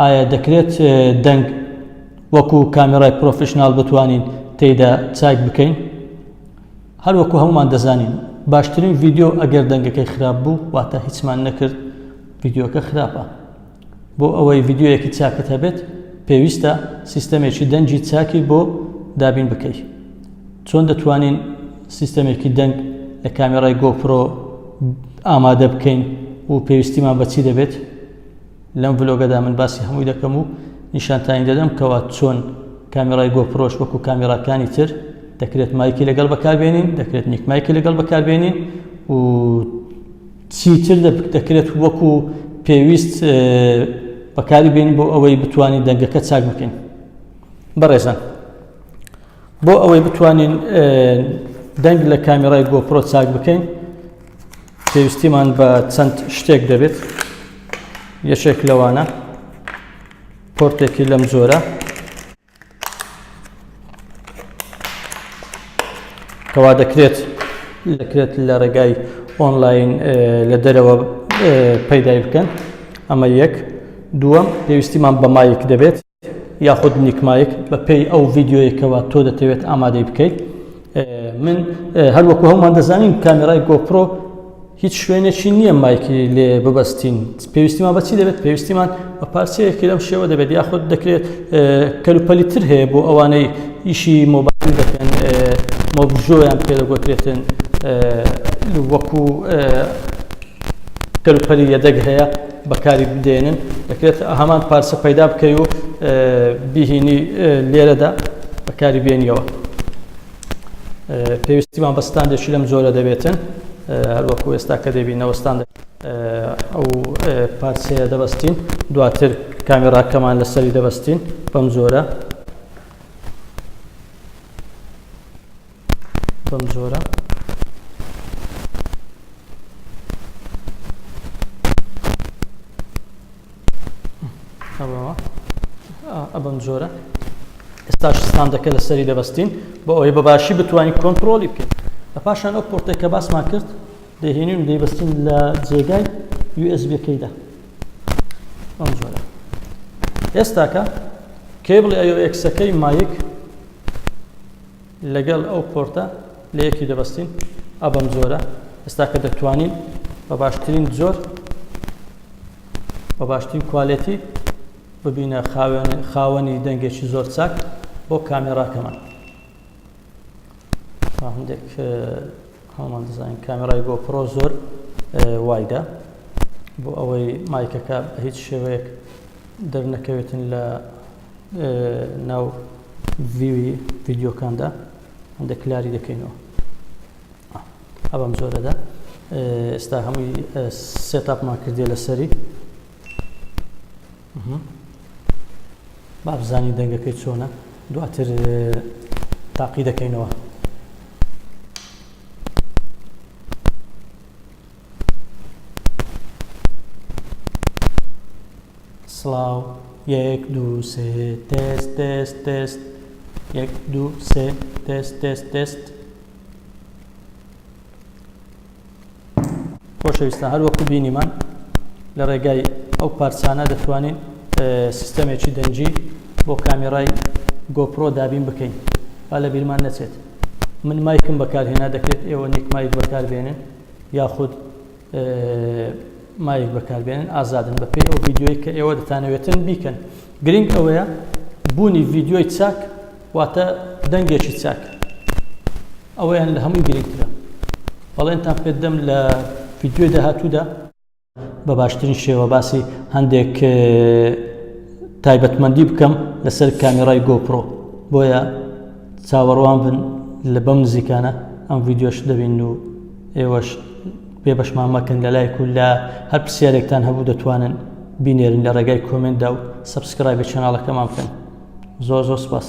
ئایا دەکرێت دەنگ وەکو کامێرای پرۆفیشنال بتوانین تێیدا چاک بکەین هەر وەکو هەمومان دەزانین باشترین ڤیددیو ئەگەر دەنگەکەی خراپ بوو واتە هیچمان نەکرد ڤیددیوەکە خراپە بۆ ئەوەی ڤیددیوەکی چاکت هەبێت پێویستە سیستەمێکی دەنگی چاکی بۆ دابین بکەیت چۆن دەتوانین سیستەمێکی دەنگ لە کامێرای گۆپرۆ ئامادە بکەین و پێویستیمان بەچی دەبێت لەم ڤلۆگەدا من باسی هەمووی دەکەم و نیشانتانی دەدەم کەوا چۆن کامیرای گۆپرۆش وەکو کامیراکانی تر دەکرێت مایکی لەگەڵ بەکاربێنین دەکرێت نیک مایکی لەگەڵ بەکاربێنین و چیتر دەکرێت وەکو پێویست بەکاری بین بۆ ئەوەی بتوانین دەنگەکە چاک بکەین بەڕێزان بۆ ئەوەی بتوانین دەنگ لە کامیرای گۆپرۆ چاک بکەین پێویستیمان بە چەند شتێک دەبێت یەکێک لەوانە پۆرتێکی لەم جۆرە کەوا دەکرێت دەکرێت لە ڕێگای ئۆنلاین لە دەرەوە پەیدای بکەن ئەمە یەک دووەم پێویستیمان بە مایک دەبێت یاخود نیک مایک بە پێی ئەو ڤیددیویەکەوە تۆ دەتەوێت ئامادەی بکەیت من هەروەکو هەمووان دەزانین کامێرای گۆپرۆ هیچ شوێنێکی نییە مایکی لێ ببەستین پێویستیمان بەچی دەبێت پێویستیمان بە پارچەیەکی لەم شێوە دەبێت یاخود دەکرێت کەلوپەلی تر هەیە بۆ ئەوانەی ئیشی مۆبایل دەکەن مۆبژۆیان پێدەگوترێتن وەکو کەلوپەلی یەدەگ هەیە بەکاری بدەینن دەکرێت هەمان پارچە پەیدا بکەی و بیهینی لێرەدا بەکاری بێنیەوە پێویستیمان بە ستاندێکی لەم جۆرە دەبێتن هەروەکو ئێستا کە دەبی نەوەستان ئەو پارچەیە دەبەستین دواتر کامێراکەمان لەسەری دەبەستین بەم جۆرە بەم جۆرە. ئەبم جۆرە ئێستاش ستاندەکە لەسەری دەبستین بۆ ئەوەی بە باشی بتوانین کۆنتترۆلی بکەین لە پاشان ئەو پۆرتێک کە باسمان کرد دەهێنین دەیبستین لە جێگای USBەکەیدا ئەم جۆرە ئێستاکە کێبڵی ئەو ئەکسەکەی مایک لەگەڵ ئەو پۆرتە لە یەکی دەبەستین ئەو بەم جۆرە ئێستا کە دەتوانین بە باشترین جۆر بە باشترین کوالێتی ببینە خاوەنی دەنگێکی زۆر چاک بۆ کامێراکەمان هەندێک هەڵمان دەزانین کامێرای بۆ پرۆ زۆر وایدا بۆ ئەوەی مایکەکە هیچ شێوەیەک دەرنەکەوێتن لە ناو ڤیوی ڤیدیۆکاندا هەندە کلاری دەکەینەوە ئەبم زۆرەدا ئێستا هەمووی سێتاپمان کردێ لەسەری بابزانی دەنگەکەی چۆنە دواتر تاقی دەکەینەوە سڵاو یەک دوو سێ تێست تێست تێست یەک دوو سێ تێست تێست تێست خۆشەویستە هەر وەکو بینیمان لە ڕێگای ئەو پارچانە دەتوانین سیستەمێکی دەنجی بۆ کامیرای گۆپرۆ دابین بکەین با لە بیرمان نەچێت من مایکم بەکارهێنا دەکرێت ئێوە نیک مایک بەکاربێنن یاخود مایک بەکاربێنن ئازادن بەپێی ئەو ڤیددیوی کە ئێوە دەتانەوێتن بیکەن گرنگ ئەوەیە بوونی ڤیددیوی چاک واتە دەنگێکی چاک ئەوەیان لە هەمووی گرنگترە بەڵێنتان پێدەم لە ڤیددیوی داهاتوودا بە باشترین شێوە باسی هەندێک تایبەتمەندی بکەم لەسەر کامیرای گۆپرۆ بۆیە چاوەڕوان بن لە بەم نزیکانە ئەم ڤیددیۆش دەبین و ئێوەش پێ بەشمان مەکەن لە لایک و لە هەر پرسیارێکتان هەبوو دەتوانن بینێرن لە ڕێگای کۆمنتدا و سبسکرای بە چەناڵەکەمان بکەن زۆر زۆر سپاس